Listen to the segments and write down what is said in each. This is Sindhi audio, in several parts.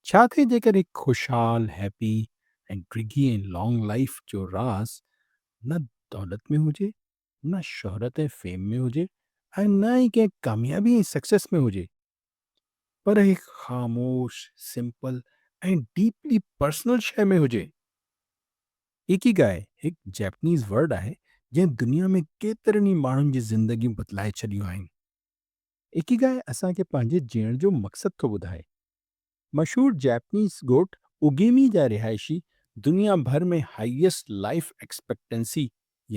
ڇا ٿئي جيڪڏهن هڪ خوشحال، هيپي ۽ ڊگهي ۽ لانگ لائيف جو راز نه دولت ۾ هجي، نه شهرت ۽ فيم ۾ هجي ۽ نه ئي ڪنهن ڪاميابي ۽ سڪسيس ۾ هجي پر هڪ خاموش، سمپل ۽ ڊيپلي پرسنل شيء ۾ هجي؟ اڪيگائي هڪ جيپنيز ورڊ آهي جنهن دنيا ۾ ڪيترن ئي ماڻهن جي زندگيون بدلائي ڇڏيون آهن. اڪيگائي اسان کي پنهنجي جيئڻ جو مقصد ٿو ٻڌائي. مشهور جاپنيز ڳوٺ اوگيمي جا رهائشي دنيا ڀر ۾ هائيسٽ لائيف ايڪسپيڪٽنسي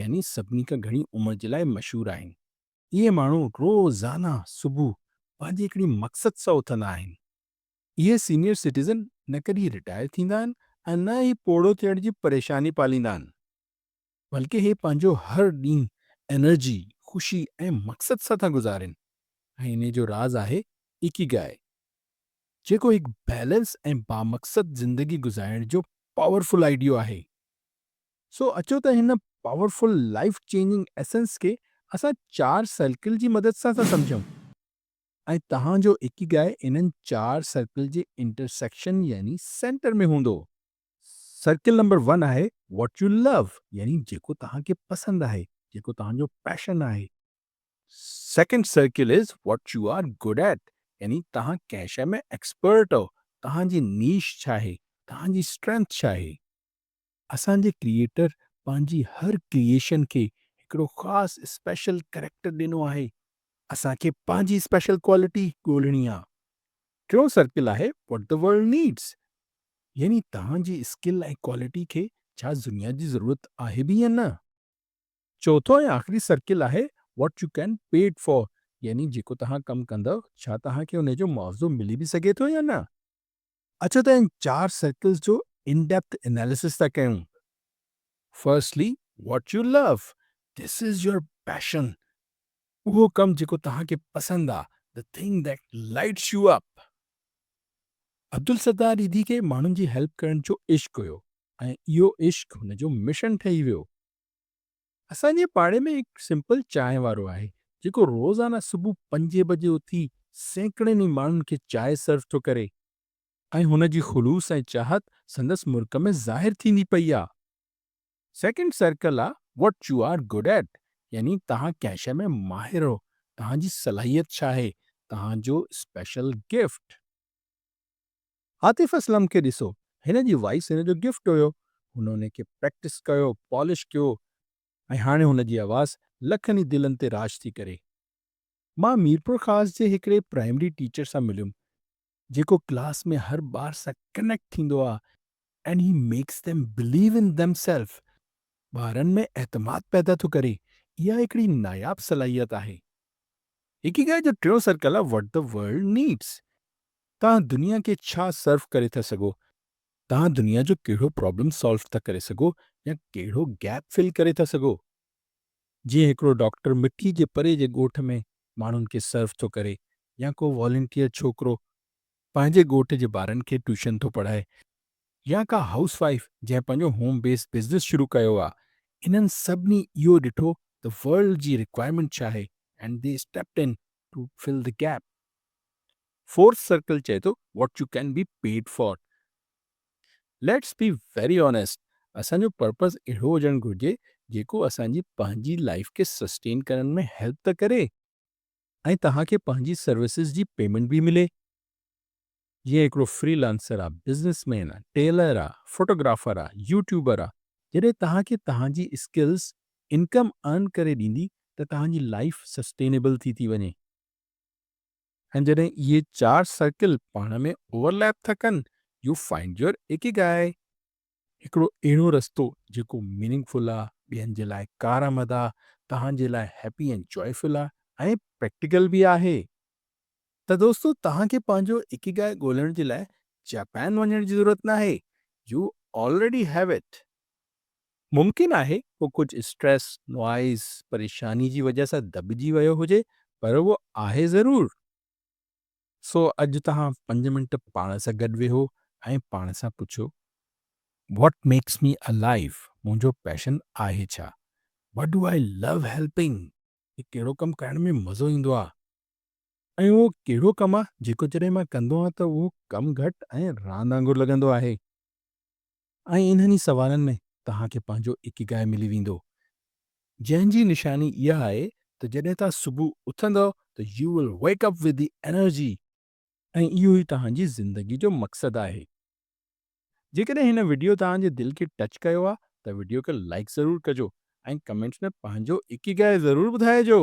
يعني سڀني کان گهڻي عمر جي لاء مشهور آهن. اهي ماڻهو روزانه صبح پنهنجي هڪڙي مقصد سان اٿندا آهن. اهي سينيئر سٽيزن نه ڪڏهن رٽائر ٿيندا آهن ۽ نه ئي پوڙهو ٿيڻ جي پريشاني پاليندا آهن. بلڪه هي پنهنجو هر ڏينهن انرجي، خوشي ۽ مقصد سان ٿا گذارين ۽ انهي جو راز آهي Ikigai جيڪو هڪ بيلنس ۽ بامقصد زندگي گذارڻ جو پاورفل آئيڊيو آهي. سو اچو ته هن پاورفل لائيف چينجنگ ايسنس کي اسان چار سرڪل جي مدد سان ٿا سمجهون ۽ توهان جو Ikigai انهن چار سرڪل جي انٽرسيڪشن يعني سينٽر ۾ هوندو. سرڪل نمبر ون آهي What you love يعني جيڪو توهان کي پسند آهي جيڪو توهان جو پيشن آهي. Second circle is What you are good at يعني توهان ڪنهن شيء ۾ ايڪسپرٽ آهو، توهان جي نيش ڇا آهي، توهان جي اسٽرينٿ ڇا آهي. اسان جي ڪريئيٽر پنهنجي هر ڪريئيشن کي هڪڙو خاص اسپيشل ڪريڪٽر ڏنو آهي. اسان کي پنهنجي اسپيشل ڪوالٽي ڳولڻي آهي. ٽيون سرڪل آهي What the world needs يعني توهان جي اسڪل ۽ ڪوالٽي کي ڇا دنيا جي ضرورت آهي به يا نه؟ چوٿون ۽ آخري سرڪل آهي What you can paid for يعني جيڪو توهان ڪم ڪندؤ ڇا توهان کي ان جو معاوضو ملي به سگهي ٿو يا نه؟ اچو ته ان چار سرڪلز جو ان ڊيپٿ اناليسس ٿا ڪيون. Firstly What you love، This is your passion، اهو ڪم جيڪو توهان کي پسند آ The thing that lights you up Abdul Sattar ريڌي کي ماڻهن جي هيلپ ڪرڻ جو عشق هيو ۽ اهو عشق هن جو مشن ٺهي ويو. اسان جي پاڙي ۾ هڪ سمپل چانهه وارو آهي جيڪو روزانه صبح پنجين بجي اٿي سيڪڙين ئي ماڻهن کي چانهه سرو ٿو ڪري ۽ هن جي خلوص ۽ چاهت سندس مرڪ ۾ ظاهر ٿيندي پئي آ. سيڪنڊ سرڪل آ what you are good at يعني توهان ڪنهن شيء ۾ ماهر آهو، توهان جي صلاحيت ڇا آهي، توهان جو اسپيشل گفٽ. عاطف اسلم کي ڏسو هن جي وائيس هن جو گفٽ هيو، هن ان کي پريڪٽس ڪيو، پالش ڪيو ۽ هاڻي هن جي آواز لکن ئي دلن تي راڄ ٿي ڪري. مان ميرپورخاص جي هڪڙي پرائمري ٽيچر سان مليم جيڪو ڪلاس ۾ هر ٻار سان ڪنيڪٽ ٿيندو آهي and he makes them believe in themselves ٻارن ۾ اعتماد پيدا ٿو ڪري، اها هڪڙي ناياب صلاحيت آهي. اڪيگائي جو ٽيون سرڪل آهي What the World Needs توهان دنيا کي ڇا سرو ڪري ٿا سگهو؟ توهان دنيا جو ڪهڙو پرابلم سالو ٿا ڪري سگهو يا ڪهڙو گيپ فل ڪري ٿا سگهو؟ جيئن هڪڙو ڊاڪٽر مٽي جي پري جي ڳوٺ ۾ ماڻهن کي سرو ٿو ڪري يا ڪو والنٽيئر ڇوڪرو پنهنجي ڳوٺ جي ٻارن کي ٽيوشن ٿو پڙهائي يا ڪا هائوس وائيف جنهن پنهنجو هوم بيس بزنس شروع ڪيو آ انهن سڀني اهو ڏٺو ته ورلڊ جي رڪوائرمينٽ ڇا آهي and they stepped in to fill the gap. Fourth circle چئي ٿو what you can be paid for. Let's be very honest اسان جو پرپز اهڙو هجڻ گهرجي جيڪو اسان جي پنهنجي لائيف کي سسٽين ڪرڻ ۾ هيلپ ته ڪري ۽ توهان کي پنهنجي سروسز جي پيمينٽ به ملي جيئن هڪڙو فري لانسر آ بزنس مين آ ٽيلر آ فوٽوگرافر آ يوٽيوبر آ جڏهن توهان کي توهان جي اسڪلز انڪم ارن ڪري ڏيندي ته توهان جي لائيف سسٽينيبل ٿي ٿي وڃي. ۽ جڏهن اهي چار سرڪل پاڻ ۾ اوور ليپ ٿا ڪن، يو فائنڊ يور اڪيگائي. هڪڙو اهڙو رستو جيڪو ميننگ فل آ، ٻين جي لاء ڪارآمد آ، توهان جي لاء هيپي ۽ جوائي فل آ ۽ پريڪٽيڪل به آهي. ته دوستو توهان کي پنهنجو اڪيگائي ڳولڻ جي لاء جاپان وڃڻ جي ضرورت ناهي، يو آلريڊي هيو اٽ. ممڪن آهي هو ڪجهه اسٽريس، نوائيز، پريشاني جي وجهه سان دٻجي ويو هجي پر اهو آهي ضرور. سو اڄ توهان پنج منٽ پاڻ سان گڏ ويهو ۽ پاڻ سان پڇو، What makes me alive؟ منهنجو پيشن آهي ڇا؟ What do I love helping؟ کي ڪهڙو ڪم ڪرڻ ۾ مزو ايندو آهي ۽ اهو ڪهڙو ڪم آهي جيڪو جڏهن مان ڪندو آهيان ته اهو ڪم گهٽ ۽ راند وانگر لڳندو آهي. ۽ انهن ئي سوالن ۾ توهان کي پنهنجو اڪيگائي ملي ويندو، جنهن جي نشاني اها آهي ته جڏهن توهان صبح اٿندؤ ته you will wake up with the energy, ۽ اهو ئي توهان جي زندگي جو مقصد آهي. جيڪڏهن هن وڊيو توهان جي دل کي ٽچ ڪيو آهي ته وڊيو کي لائيڪ ضرور ڪجو ۽ ڪمينٽس ۾ پنهنجو اڪيگائي ضرور ٻڌائجو.